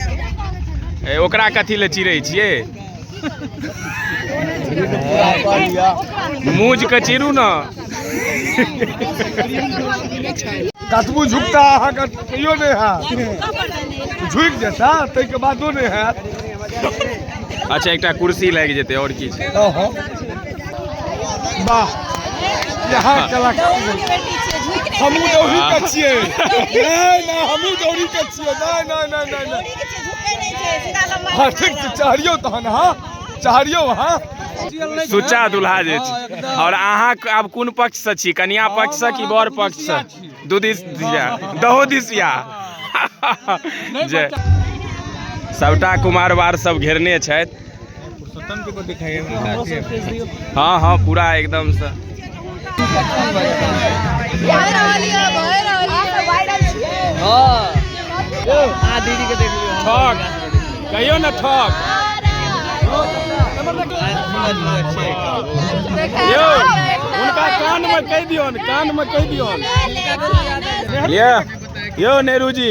ए, ओकरा कथी लए चिड़ै छियै मूज के चिरू ने कतबू झुकता अहाँके तैयो नहि हैत झुकि जेता ताहिके बादो नहि हैत अच्छा एकटा कुर्सी लागि जेतै आओर की छै अहो। वाह यहाँ कलाकार हमहूँ दौड़ी के छियै नहि नहि हमहूँ दौड़ी के नहि नहि नहि नहि नहि हाँ ठीक छै चहरियौ तहन अहाँ चहरियौ अहाँ सुच्चा दुल्हा जे छै आओर अहाँ क- आब कोन पक्षसँ छी कनिया पक्षसँ कि बर पक्षसँ दू दिस दिया दहो दिसिया जे सभटा कुमारवार सब घेरने छथि हँ हँ पूरा एकदमसँ ठक कहियो ने ठक यौ हुनका कानमे कहि दियौन कानमे कहि दियौन ये यो नेहरू जी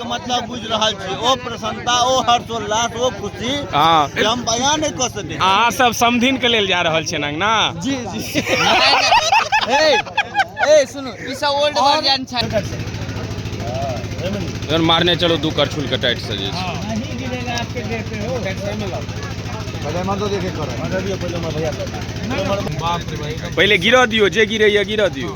मतलब बुझि रहल छी ओ प्रसन्नता ओ हर्षोल्लास ओ खुशी हाँ जे हम बयान नहि कऽ सकै छी। अहाँ सब समधिन के लेल जा रहल छियनि अंगना जी जी ए ए सुनू ई सब ओल्ड वर्जन छै जहन मारने चलो दू करछुल के टाइट से जे छै। पहिले गिरऽ दियौ जे गिरैया गिरऽ दियौ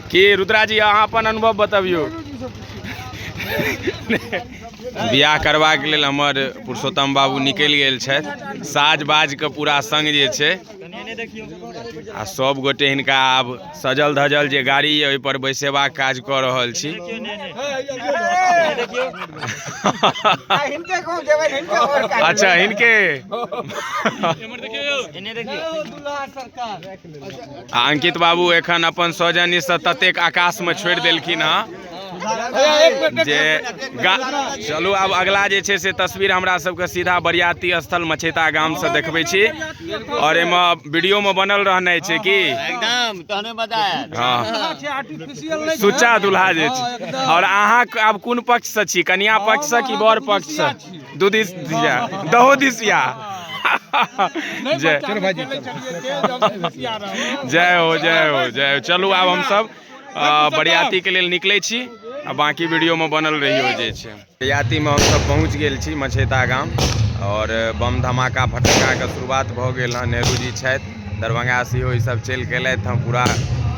की रुद्रा जी अहाँ अपन अनुभव बतबियौ बियाह करबाक लेल हमर पुरुषोत्तम बाबू निकलि गेल छथि साज बाजके पूरा संग जे छै आ सब गोटे हिनका आब सजल धजल जे गाड़ी यऽ ओहिपर बैसेबाक काज कऽ रहल छी अच्छा हिनके आ अंकित बाबू एखन अपन सौजन्यसँ ततेक आकाशमे छोड़ि देलखिन हँ जे गा चलू आब अगला जे छै से तस्वीर हमरा सबके सीधा बरियाती स्थल मछेता गामसँ देखबै छी आओर एहिमे वीडियोमे बनल रहनाइ छै कि एकदम तहने मजा आयल हँ आर्टिफिशियल नहि सुच्चा दुल्हा जे छै आओर अहाँ आब कोन पक्षसँ छी कन्या पक्षसँ कि बर पक्षसँ दूधीस दिया दहो दिसिया नहि जय बच्चा नहि खेलै छलियै तेल जब से बसिया रहल। जय हो जय हो जय हो चलू आब हमसब अ, बरियाती के लेल निकलै छी आ बाकी वीडियो में बनल रहियो जे छै बरियाती में हमसब पहुंच गेल छी मछेता गाम और बम धमाका फटक्का के शुरुआत भऽ गेल हँ नेहरू जी छथि दरभंगा से ई सब चलि गेलथि हम पूरा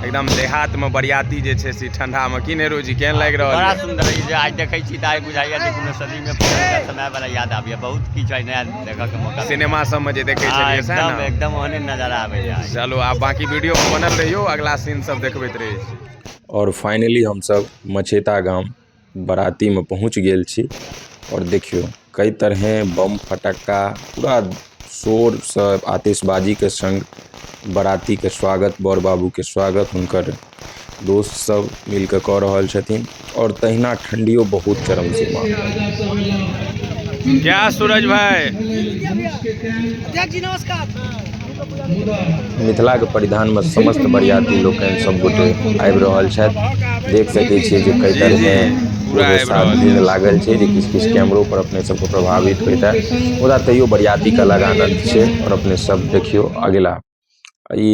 एकदम देहात में बरियाती जे छै से ठंडा में की नेहरू जी केहन लागि रहल बड़ा सुंदर ई जे आज देखै छी तऽ आइ बुझाइए जे कोनो सदी में पुरानका समय वाला याद आबैए बहुत किछु आइ नया देखऽ के मौका सिनेमा सब में जे देखे हाँ, छलियै सएह एकदम ने एकदम ओहने नजर आबैए आइ। चलो आब बाकी वीडियो में बनल रहियो अगला सीन सब देखबैत रहे छी और फाइनली हम सब मछेता गाम बरातीमे पहुँच गेल छी आओर देखियौ कइ तरहे बम फटक्का पूरा शोरसँ आतिशबाजीके सङ्ग बरातीके स्वागत बर बाबूके स्वागत हुनकर दोस्त सब मिल कऽ कऽ रहल छथिन आओर तहिना ठण्डियो बहुत चरम सीमा पर जय सूरज भाई अध्यक्ष जी नमस्कार मिथिलाके परिधानमे समस्त बरिआती लोकनि सब गोटे आबि रहल छथि देखि सकै छिए जे कएक तरहके पूरा आबि रहल भीड़ लागल छै जे किछु किछु कैमरोपर अपने सबके प्रभावित होइता मुदा तैओ बरिआतीके अलग आनन्द छै आओर अपने सब देखिऔ अगिला ई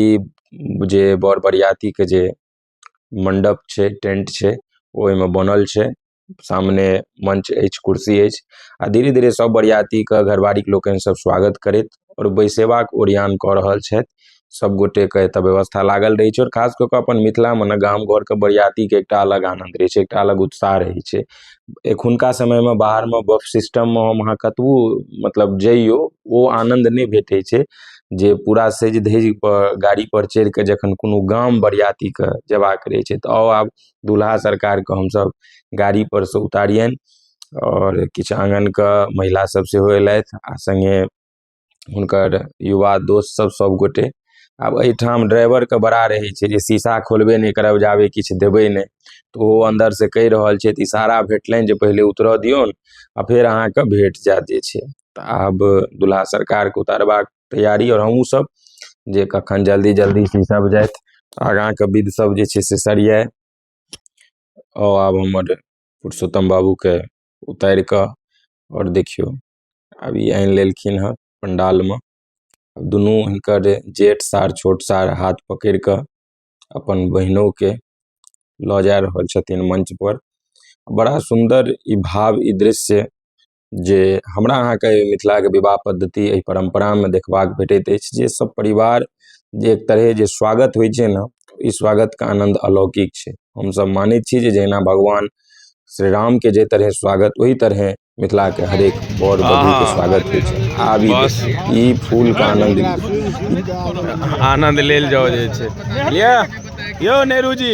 जे बर बरिआतीके जे मण्डप छै टेन्ट छै ओहिमे बनल छै सामने मंच अछि कुर्सी अछि आ धीरे धीरे सब बरियाती के घरवारी के लोकनि सब स्वागत करैत आओर बैसेबाक ओरियान कऽ रहल छथि सब गोटे के एतऽ व्यवस्था लागल रहै छै आओर खास कऽ कऽ अपन मिथिला मे ने गाम घर के बरियाती के एकटा अलग आनन्द रहै छै एकटा अलग उत्साह रहै छै एखुनका समय मे बाहर मे बफ सिस्टम मे हम अहाँ कतबो मतलब जइयौ ओ आनन्द नहि भेटै छै जे पूरा सजि धजि कऽ गाड़ी पर चढ़ि कऽ जखन कोनो गाम बरियाती के जेबाक रहै छै तऽ आउ आब दुलहा सरकारके हमसब गाड़ी पर से उतारियनि आओर किछु आँगनके महिला सब सेहो अयलथि आ सङ्गे हुनकर युवा दोस्त सब सब गोटे आब एहिठाम ड्राइवरके बड़ा रहै छै जे शीशा खोलबे नहि करब जाबे किछु देबै नहि तऽ ओहो अन्दर से कहि रहल छथि इशारा भेटलनि जे पहिले उतरऽ दियौन आ फेर अहाँके भेट जायत जे छै तऽ आब दुलहा सरकारके उतारबाक तैयारी आओर हमहुँ सब जे कखन जल्दी जल्दी सी सब जाथि आगाँके बिध सब जे छै से सरियाइ आओर आब हमर पुरुषोत्तम बाबूके उतारि कऽ आओर देखियौ आब ई आनि लेलखिन हँ पण्डालमे दुनू हिनकर जेठ सार छोट सार हाथ पकड़ि कऽ अपन बहिनोके लऽ जा रहल छथिन मञ्चपर बड़ा सुन्दर ई भाव ई दृश्य जे हमरा अहाँके मिथिलाके विवाह पद्धति एहि परम्परामे देखबाक भेटैत अछि जे सब परिवार जे एक तरहे जे स्वागत होइ छै ने ई स्वागतके आनन्द अलौकिक छै हमसब मानै छी जे जहिना भगवान श्री रामके जाहि तरहे स्वागत ओहि तरहे मिथिलाके हरेक बर वधूके स्वागत होइ छै आब ई बस। देखियौ, ई फूलके आनन्द आनन्द लेल जाओ जे छै यौ नेहरू जी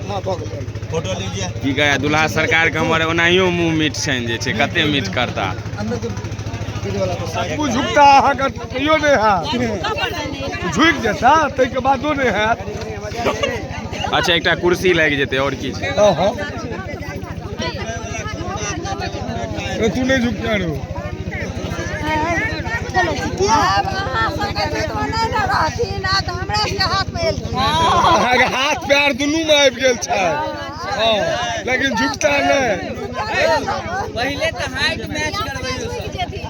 फोटो लीजिए की कहै दुल्हा सरकारके हमर ओनाहियो मुँह मीठ छनि जे छै कते मीठ करता आगू झुकता अहाँके तैयो नहि हैत झुकि जेता ताहिके बादो नहि हैत अच्छा एकटा कुर्सी लागि जेतै आओर की छै हँ हँ तू नहीं झुक जा रहे हाथ पैर दुनू में आबि गेल छै लेकिन झुकता नहीं पहले तो हाइट मैच करबे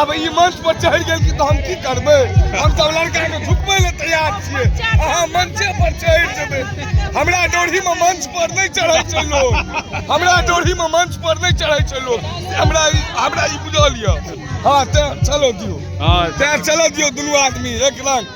आब ई मंच पर चढ़ि गेल कि तऽ हम की करबै हम सब लड़का के झुकबै ले तैयार छियै अहाँ मंचे पर चढ़ि जेबै हमरा डोढ़ी में मंच पर नहीं चढ़ै छै लोग हमरा डोढ़ी में मंच पर नहीं चढ़ै छै लोग हमरा ई हमरा ई बुझल यऽ हाँ तैं चलो दियो हाँ तैं चलो दियो दुनू आदमी एक रंग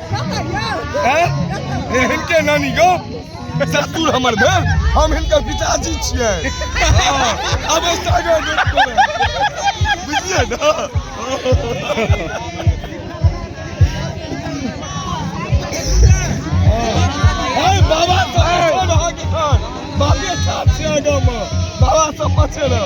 हिनके नानी गो ससुर हमर भेल हम हिनकर पिताजी छियै अब बुझलियै ने बाबा बाबे साथ छै आगामे बाबा सब बचे रह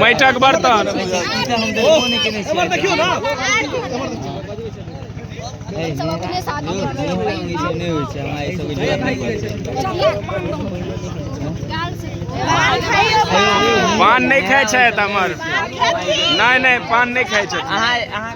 माटिक बर्तन पान नहि खाइ छथि हमर नहि नहि पान नहि खाइ छथि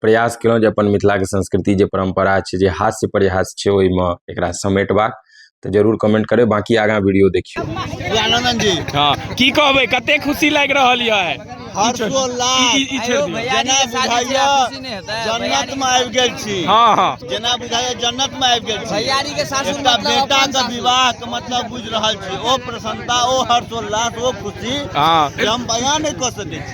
प्रयास केलहुँ जे अपन मिथिलाके संस्कृति जे परम्परा छै जे हास्य परिहास छै ओहिमे एकरा समेटबाक तऽ जरूर कमेंट करबै बाँकी आगाँ वीडियो देखियौ आनंद जी हँ की कहबै कते खुशी लागि रहल यऽ हर्षोल्लास ई- ई- ई छोड़ि दियौ। जेना बुझाइया जन्नत में आबि गेल छी हँ हँ जेना बुझाइया जन्नत में आबि गेल छी भैयारी के सासुर एकटा मतलब बेटा अपन के सासुर। विवाह के मतलब बुझ रहल छी ओ प्रसन्नता ओ हर्षोल्लास ओ खुशी हाँ। जे हम बयान नहि कऽ सकै छी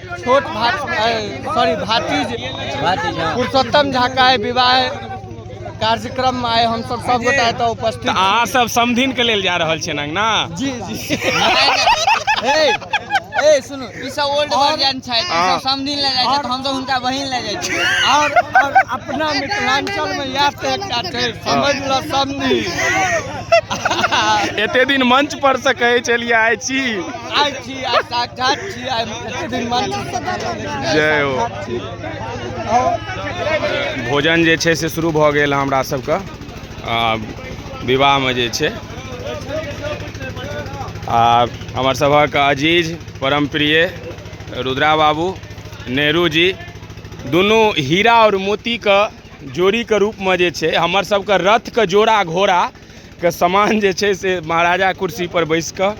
छोट सॉरी भातीज पुरुषोत्तम झा का विवाह कार्यक्रम में आए हम सब सब गोटा एतऽ उपस्थित तऽ अहाँ सब समधिन के लेल जा रहल छियै अंगना जी जी ए ए सुनो ई सब ओल्ड वर्जन छै ई हाँ। सब समझिन ले जाय छै तऽ हम सब हुनका बहिन ले जाय छी और और अपना मिथिलांचल में याद से एकटा छै समझ ल समझी एते दिन मंच पर से कहै छलियै आइ छी आइ जय हो भोजन जे छै से शुरू भऽ गेल हमरा सबके आ विवाहमे जे छै आ हमर सभक अजीज परम प्रिय रुद्रा बाबू नेहरू जी दुनू हीरा आओर मोतीके जोड़ीके रूपमे जे छै हमर सबके रथके जोड़ा घोड़ा के समान जे छै से महाराजा कुर्सी पर बैस कऽ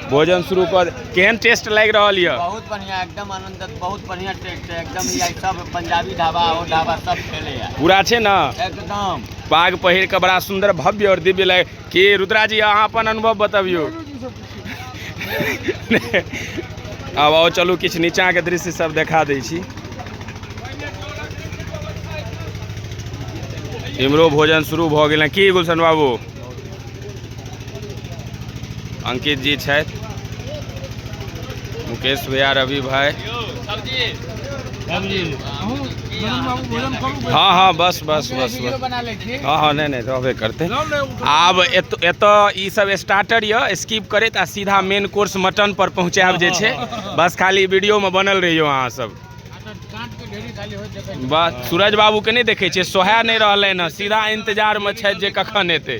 भोजन शुरू कर केहन टेस्ट लागि रहल यऽ बहुत बढ़िया एकदम आनंद बहुत बढ़िया टेस्ट है एकदम ई आइ सब पंजाबी ढाबा और ढाबा सब खेले है पूरा छै ने एकदम पाग पहिर कऽ बड़ा सुंदर भव्य और दिव्य लग कि रुद्रा जी अहाँ अपन अनुभव बतबियौ आब आउ चलू किछु नीचाँके दृश्य सब देखा दै छी इम्हरो भोजन शुरू भऽ गेल हैं की गुलशन बाबू अंकित जी छथि मुकेश भैया रवि भाई हाँ हाँ बस बस बस बस हँ हँ नहि नहि रहबे करतै आब एत एतय ईसभ स्टार्टर यए स्किप करैत आ सीधा मेन कोर्स मटनपर पहुँचायब जे छै बस खाली वीडियोमे बनल रहियौ अहाँसभ बस सूरज बाबूके नहि देखै छियै सोहे नहि रहलनि हँ सीधा इन्तजारमे छथि जे कखन एतै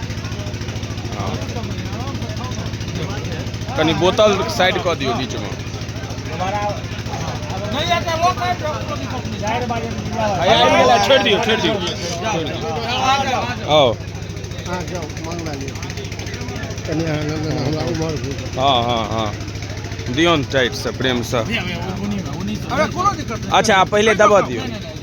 हाँ। कनि बोतल साइड कऽ दियौ बीचमे छोड़ि दियौ छोड़ि दियौ आउ हाँ हाँ हाँ दियौन टाइटसँ प्रेमसँ अच्छा पहिले दबा दियौ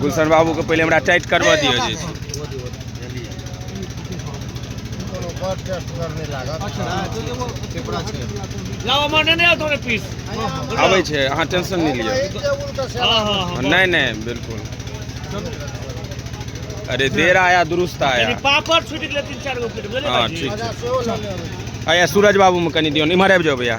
गुलशन बाबू के पहले हमरा टाइट करवा दियो जे आबे छे अहाँ टेंशन नहीं लियो नहीं नहीं बिल्कुल अरे देर आया दुरुस्त आया पापड़ छूट गेलै तीन चार गो हां ठीक है आया सूरज बाबू में कनी दियो इमहर आबि जाओ भैया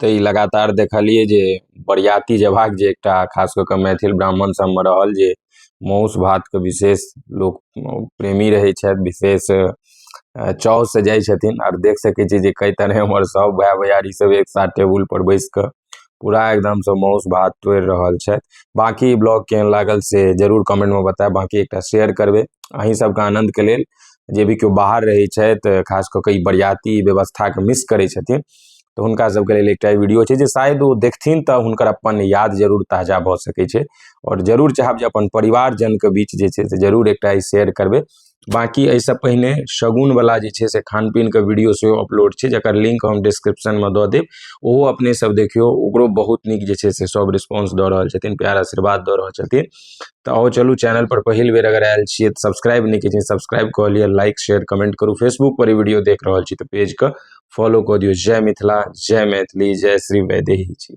तऽ ई लगातार देखलियै जे बरियाती जेबाक जे एकटा खास कऽ कऽ मैथिल ब्राह्मण सबमे रहल जे मौस भातके बिशेष लोक प्रेमी रहै छथि बिशेष चाव सऽ जाइ छथिन आर देख सकै छियै जे कए तरहे हमर सब भाए भैयारी सब एक साथ टेबुल पर बैस कऽ पूरा एकदम सऽ मौस भात तोरि रहल छथि बाँकी ई ब्लॉग केहन लागल से जरूर कमेन्ट मे बताएब बाँकी एकटा शेयर करबै अहीं सबके आनन्दके लेल जे भी केओ बाहर रहै छथि खास कऽ कऽ ई बरियाती व्यवस्थाके मिस करै छथिन तऽ हुनका सबके लेल एकटा वीडियो छै जे शायद ओ देखथिन तऽ हुनकर अपन याद जरूर ताजा भऽ सकै छै आओर जरूर चाहब जे अपन परिवारजनके बीच जे छै से जरूर एकटा ई शेयर करबै बाँकी एहिसँ पहिने शगुनवला जे छै से खान पीनके वीडियो सेहो अपलोड छै जकर लिंक हम डिस्क्रिप्शनमे दऽ देब ओहो अपने सब देखियौ ओकरो बहुत नीक जे छै से सब रिस्पॉन्स दऽ रहल छथिन प्यार आशीर्वाद दऽ रहल छथिन तऽ आओ चलू चैनल पर पहिल बेर अगर आयल छियै तऽ सब्सक्राइब नहि केलियै सब्सक्राइब कऽ लिअ लाइक शेयर कमेंट करू फेसबुक पर ई वीडियो देख रहल छी तऽ पेजके फॉलो कऽ दियौ जय मिथिला जय मैथिली जय श्री वैदेही जी